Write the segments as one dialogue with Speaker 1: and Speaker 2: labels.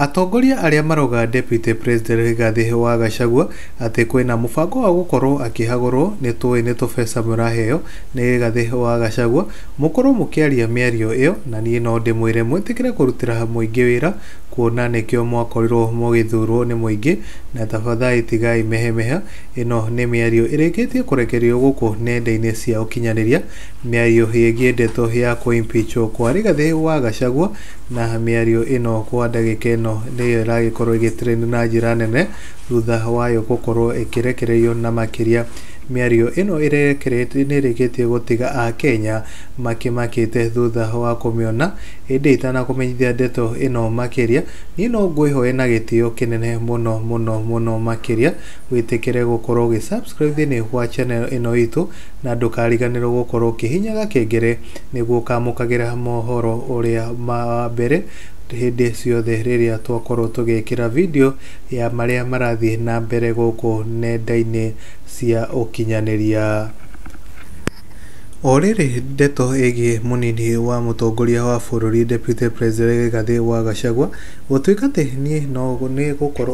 Speaker 1: Atongoria arĩa maroga Deputy President Rigathi wa Gachagua atĩ kwĩna mũbango wa gũkorwo akĩhagũrwo nĩtũĩ nĩ tũbeca mũraheo nĩ Rigathi wa Gachagua mũkorwo mũkĩaria mĩario ĩyo na niĩ no ndĩmwĩre mwĩtĩkĩre kũrutĩra mũingĩ wĩra kuona nĩkĩo mwakorirwo mũgĩthurwo nĩ mũingĩ na tafadhali tigai mehemeha ĩno nĩ mĩario ĩrĩkĩtie kũrekererio gũkũ nenda-inĩ cia ũkinyanĩria mĩario yĩgiĩ ndeto ya kũ impeachwo kwa Rigathi wa Gachagua Na mĩario ĩno kwa ndagĩka ĩno nĩyo ĩragĩkorwo ĩgĩ trend na njĩra nene thutha wayo gũkorwo ĩkĩrekererio na makĩria mĩario ĩno ĩrekeretie nĩrĩkĩtie gũtiga akenya makĩmakĩte thutha wa kũmĩona ĩndĩ itanakũmenyithia ndeto ĩno makĩria niĩ no ngwĩhoe na gĩtĩo kĩnene mũno mũno mũno makĩria wĩtĩkĩre gũkorwo ũgĩ subscribe thĩinĩ wa channel ĩno itũ na ndũkariganĩrwo gũkorwo ũkĩhihinya gakengere nĩguo ũkamũkagĩra mohoro ũrĩa ma wa mbere hĩndĩ ciothe rĩrĩa twakorwo tũgĩkĩra video ya marĩa marathiĩ na mbere gũkũ nenda-inĩ cia ũkinyanĩria. O rĩrĩ ndeto ĩgiĩ mũnini wa mũtongoria wa bũrũri Deputy President Rigathi wa Gachagua gũtuĩka atĩ niĩ no nĩ gũkorwo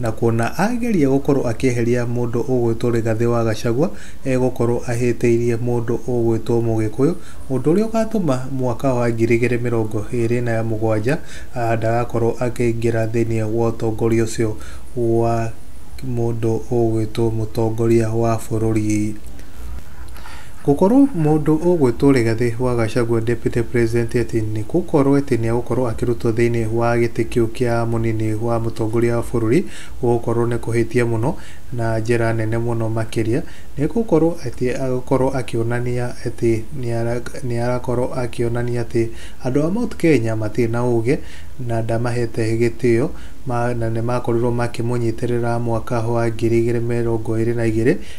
Speaker 1: na kuona ageria gũkorwo akĩeheria mũndũ ũgwĩtwo Rigathĩ wa Gachagua egũkorwo ahĩtĩirie mũndũ ũgwĩtwo Mũgĩkũyũ, ũndũ ũrĩa ũgatũma mwaka wa ngiri igĩrĩ mĩrongo ĩrĩ na mũgwanja ndagakorwo akĩingĩra thĩinĩ wa ũtongoria ũcio wa mũndũ ũgwĩtwo mũtongoria wa bũrũri. Gũkorwo mũndũ ũgwĩtwo Rigathi wa Gachagua Deputy President atĩ nĩ gũkorwo atĩ nĩ egũkorwo akĩrutwo thĩinĩ wa gĩtĩ kĩu kĩa mũnini wa mũtongoria wa bũrũri gũgũkorwo nĩ kũhĩtia mũno na njĩra nene mũno makĩria nĩ gũkorwo atĩ agũkorwo akĩonania atĩ nĩ arakorwo akĩonania atĩ andũ a Mount Kenya matirĩ na ũgĩ na ndamahete gĩtĩo na nĩ makorirwo makĩmũnyitĩrĩra mwaka wa ngiri igĩrĩ mĩrongo ĩrĩ na igĩrĩ.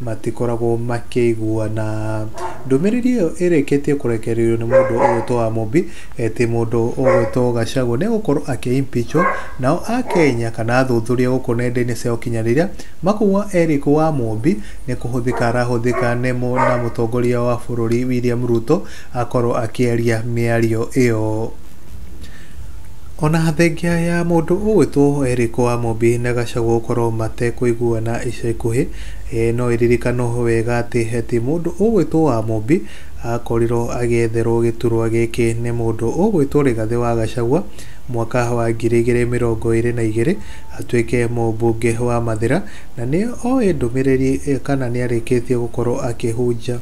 Speaker 1: matikoragwo makĩiguana. Ndũmĩrĩri ĩyo ĩrĩkĩtie kũrekererio nĩ mũndũ ũgwĩtwo Amobi ĩtĩ mũndũ ũgwĩtwo Gachagua nĩ egũkorwo akĩ impeachwo nao Akenya kana athuthuria gũkũ nenda-inĩ cia ũkinyanĩria makauga Eric wa Amobi nĩ kũhũthĩka arahũthĩka nĩ na mũtongoria wa bũrũri William Ruto akorwo akĩaria mĩario ĩyo. Ona thengia ya mũndũ ũgwĩtwo Eric Wamũmbi na Gachagua gũkorwo matekũiguana ica ikuhĩ, no ĩririkanwo wega atĩ atĩ mũndũ ũgwĩtwo Wamũmbi akorirwo agĩetherwo gĩturwa gĩkĩ nĩ mũndũ ũgwĩtwo Rigathĩ wa Gachagua mwaka wa ngiri igĩrĩ mĩrongo ĩrĩ na igĩrĩ atuĩke mũmbunge wa Mathĩra, na nĩ oĩ ndũmĩrĩri kana nĩ arĩkĩtie gũkorwo akĩhunjia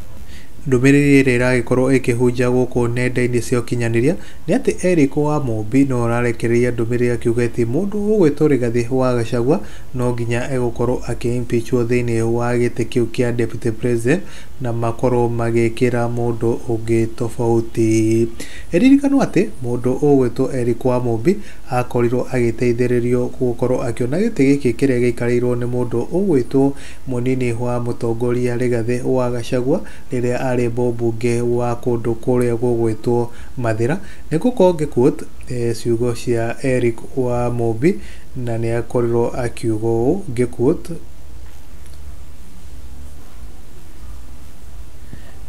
Speaker 1: ndũmĩrĩri ĩrĩa ĩragĩkorwo ĩkĩhunja gũkũ nenda-inĩ cia ũkinyanĩria. Nĩ atĩ Eric Wamũmbi no ararekereria ndũmĩrĩri akiuga ĩtĩ mũndũ ũgwĩtwo Rigathi wa Gachagua no nginya egũkorwo akĩ impeachwo thĩinĩ wa gĩtĩ kĩu kĩa Deputy President na makorwo magĩkĩra mũndũ ũngĩ tofauti. Ĩririkanwo atĩ mũndũ ũgwĩtwo Eric Wamũmbi akorirwo agĩteithĩrĩrio gũkorwo akĩona gĩtĩ gĩkĩ kĩrĩa gĩikarĩirwo nĩ mũndũ ũgwĩtwo mũnini wa mũtongoria Rigathi wa Gachagua rĩrĩa arĩ mũmbunge wa kũndũ kũrĩa gũgwĩtwo Mathira, nĩ gũkorwo ngĩ quote ciugo cia Eric wa Mũmbi, na nĩ akorirwo akiuga ũũ, ngĩ quote,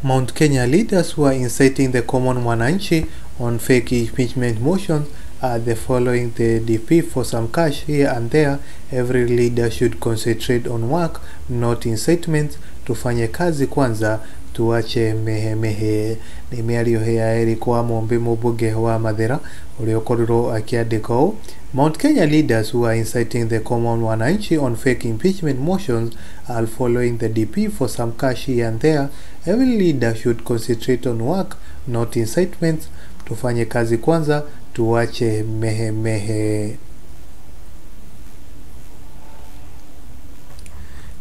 Speaker 1: Mount Kenya leaders who are inciting the common mwananchi on fake impeachment motions are the following the DP for some cash here and there every leader should concentrate on work not incitements tufanye kazi kwanza tuache mehemehe Nĩ mĩario hĩ ya Eric Wamũmbĩ mũmbunge wa Mathĩra ũrĩa ũkorirwo akĩandĩka ũũ, Mount Kenya leaders who are inciting the common wananchi on fake impeachment motions are following the DP for some cash here and there, every leader should concentrate on work not incitements, tufanye kazi kwanza tuwache mehe mehe.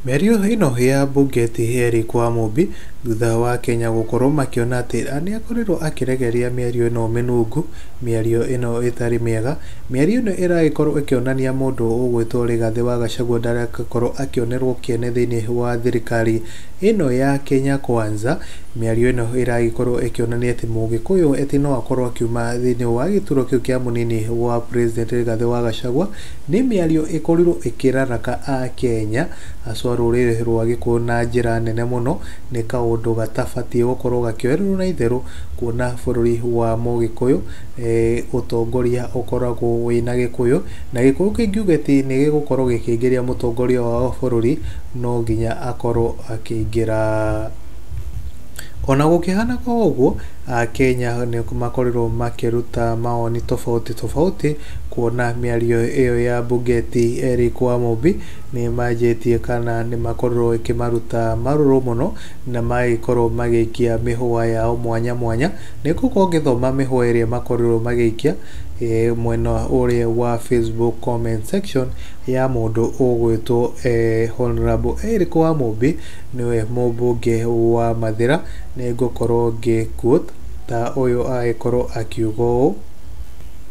Speaker 1: Mĩario ĩno ya mbunge ti Eric Wamũmbi Thutha wa Akenya gũkorwo makĩona atĩ nĩakorirwo akĩregeria mĩario ĩno mĩnungu, mĩario ĩno ĩtarĩ mĩega, mĩario ĩno ĩragĩkorwo ĩkĩonania mũndũ ũgwĩtwo Rigathĩ wa Gachagua ndarakorwo akĩonerwo kĩene thĩiniĩ wa thirikari ĩno ya Kenya Kwanza, mĩario ĩno ĩragĩkorwo ĩkĩonania atĩ mũgĩkũyũ atĩ no akorwo akiuma thĩiniĩ wa gĩturwa kĩu kĩa mũnini wa president Rigathĩ wa Gachagua. Nĩ mĩario ĩkorirwo ĩkĩraraka Akenya haswa rũrĩrĩ rwa Gĩkũyũ na njĩra nene mũno, nĩ kaũndũ gatabatiĩ gũkorwo gakĩoererwo na itherũ, kuona bũrũri wa Mũgĩkũyũ, ũtongoria ũkoragwo wĩna Gĩkũyũ, na Gĩkũyũ kĩngiuga atĩ nĩ gĩgũkorwo gĩkĩingĩria mũtongoria wao bũrũri, no nginya akorwo akĩingĩra. Ona gũkĩhanaga ũguo, Akenya nĩ makorirwo makĩruta mawoni tofauti tofauti. Kuona mĩario ĩyo ya Bugeti, Eric Wamũmbi nĩ manjĩtie kana nĩ makorũo ĩkĩmaruta marũrũ mũno na magagĩkorũo magĩikia mĩhũa yao mwanya mwanya. Nĩ gũkorũo ngĩthoma mĩhũa ĩrĩa makorirũo magĩikia mwena ũrĩa wa Facebook comment section ya mũndũ ũgwĩtwo Honourable Eric Wamũmbi nĩwe mũmbunge wa Mathĩra, nĩ ngũkorũo ngĩ quote ta ũyũ agĩkorũo akiuga ũũ.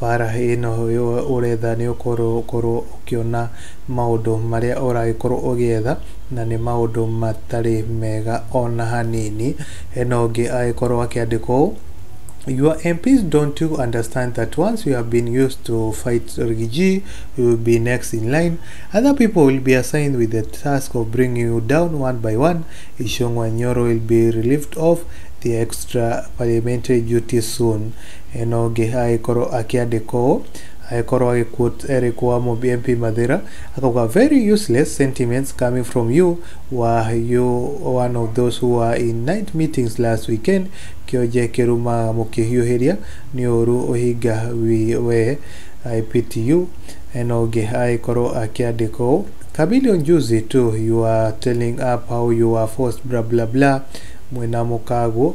Speaker 1: Bara ĩno ũretha nĩ ũkorwo ũkorwo ũkĩona maũndũ marĩa ũragĩkorwo ũgĩetha, na nĩ maũndũ matarĩ mega ona hanini. Hena ũngĩ agĩkorwo akĩandĩka ũũ, Your MPs don't you understand that once you have been used to fight rigiji, you will be next in line. Other people will be assigned with the task of bringing you down one by one. Ishungwa Nyoro will be relieved of the extra parliamentary duty soon. Hena ũngĩ agĩkorwo akĩandĩka ũũ, agĩkorwo agĩ quote Eric wa MP Mathira akauga very useless sentiments coming from you were you one of those who were in night meetings last weekend kĩonje kĩrumaga mũkĩhiũhĩria nĩ ũru ũhinga wi we I pity you hena ũngĩ agĩkorwo akĩandĩka ũũ Chameleon juzi too you were telling up how you were forced bla bla bla mwĩna mũkaguo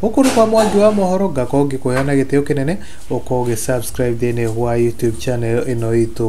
Speaker 1: Gũkũ nĩ kwa Mwangi wa Mohoro, ngakorwo ngĩkũheana gĩtĩo kĩnene, ũkorwo ũgĩ subscribe thĩinĩ wa YouTube channel ĩno itũ.